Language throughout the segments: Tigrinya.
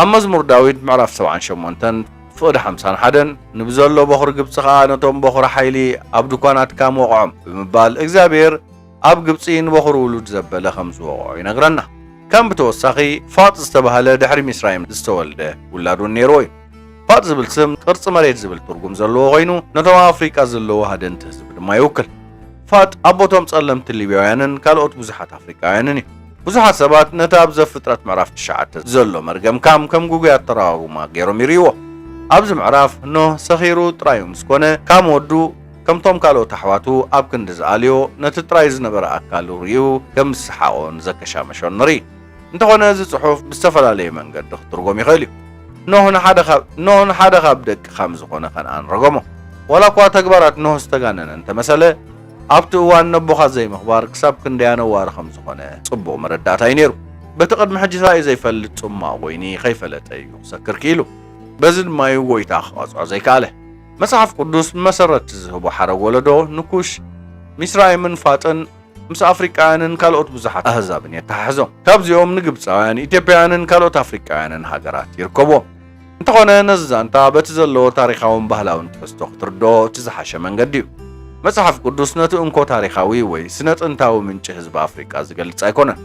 ኣብ መዝሙር ዳዊት ምዕራፍ ሰብዓን ሸሞንተን ፍቕዲ ሓምሳን ሓደን ንብዘሎ በዅሪ ግብጺ ኸኣ ነቶም በዅሪ ሓይሊ ኣብ ድኳናትካ ምወቕዖም ብምባል እግዚኣብሄር ኣብ ግብጺ ንበዅሪ ውሉድ ዘበለ ከም ዝወቕዖ ይነግረና። ከም ብተወሳኺ ፋጥ ዝተባህለ ድሕሪ ሚስራይም ዝተወልደ ውላድ ውን ነይርዎ እዩ። ፋጥ ዝብል ስም ቅርጺ መሬት ዝብል ትርጉም ዘለዎ ኮይኑ ነቶም ኣብ ኣፍሪቃ ዝለዉ ሃደንቲ ህዝቢ ድማ ይውክል። ፋጥ ኣቦቶም ጸለምቲ ሊብያውያንን ካልኦት ብዙሓት ኣፍሪቃውያንን እዩ። ብዙሓት ሰባት ነቲ ኣብ ዘፍጥረት ምዕራፍ ትሽዓተ ዘሎ መርገም ካም ከም ግጉይ ኣተረጓጉማ ገይሮም ይርእይዎ። ኣብዚ ምዕራፍ ኖህ ሰኺሩ ጥራዩ ምስ ኮነ ካም ወዱ ከምቶም ካልኦት ኣሕዋቱ ኣብ ክንዲ ዝኣልዮ ነቲ ጥራይ ዝነበረ ኣካሉ ርእዩ ከም ዝሰሓቖን ዘከሻመሾን ንርኢ። እንተኾነ እዚ ጽሑፍ ብዝተፈላለየ መንገዲ ክትርጎም ይኽእል እዩ። ኖህ ንሓደ ካብ ኖህ ንሓደ ካብ ደቂ ካም ዝኾነ ከንኣን ረገሞ። ዋላ እኳ ተግባራት ኖህ ዝተጋነነ እንተመሰለ፣ ኣብቲ እዋን ነቦኻ ዘይምኽባር ክሳብ ክንደይ ኣነዋሪ ከም ዝኾነ ጽቡቕ መረዳእታ እዩ ነይሩ። በቲ ቅድሚ ሕጂ ተራእዩ ዘይፈልጥ ጽሟቕ ወይኒ ከይፈለጠ እዩ ክሰክር ክኢሉ። በዚ ድማ እዩ ጐይታ ክቐጽዖ ዘይከኣለ። መጽሓፍ ቅዱስ ብመሰረት'ቲ ዝህቦ ሓረግ ወለዶ ንኩሽ፣ ሚስራይምን ፋጥን፣ ምስ ኣፍሪቃውያንን ካልኦት ብዙሓት ኣህዛብን የተሓሕዞ። ካብዚኦም ንግብጻውያን፣ ኢትዮጵያውያንን ካልኦት ኣፍሪቃውያንን ሃገራት ይርከቡዎም። እንተኾነ ነዚ ዛንታ በቲ ዘለዎ ታሪኻውን ባህላውን ትሕዝቶ ክትርድኦ እቲ ዝሓሸ መንገዲ እዩ። መጽሓፍ ቅዱስ ነቲ እንኮ ታሪኻዊ ወይ ስነ-ጥንታዊ ምንጪ ህዝቢ ኣፍሪቃ ዝገልጽ ኣይኮነን።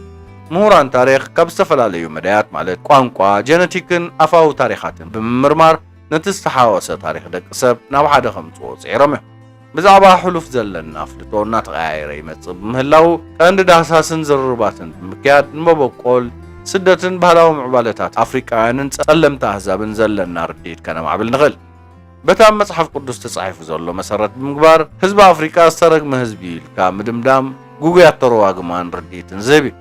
ምሁራን ታሪኽ ካብ ዝተፈላለዩ መዳያት ማለት ቋንቋ፣ ጀነቲክን ኣፋዊ ታሪኻትን ብምምርማር ነቲ ዝተሓዋወሰ ታሪኽ ደቂ ሰብ ናብ ሓደ ከምጽዎ ጽዒሮም እዮም። ብዛዕባ ሕሉፍ ዘለና ኣፍልጦ እናተቐያየረ ይመጽእ ብምህላዉ፣ ቀንዲ ዳህሳስን ዝርርባትን ብምክያድ ንመበቆል ስደትን ባህላዊ ምዕባለታት ኣፍሪቃውያንን ጸለምቲ ኣህዛብን ዘለና ርድኢት ከነማዕብል ንኽእል። በቲ ኣብ መጽሓፍ ቅዱስ ተጻሒፉ ዘሎ መሰረት ብምግባር፣ ህዝቢ ኣፍሪቃ ዝተረግመ ህዝቢ እዩ ኢልካ ምድምዳም ግጉይ ኣተረጓግማን ርድኢትን ዝህብ እዩ።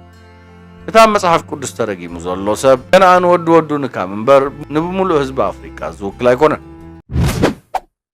እቲ ኣብ መጽሓፍ ቅዱስ ተደጊሙ ዘሎ ሰብ ከነኣን ወዲ ወዱ ንካም እምበር፣ ንብምሉእ ህዝቢ ኣፍሪቃ ዝውክል ኣይኮነን።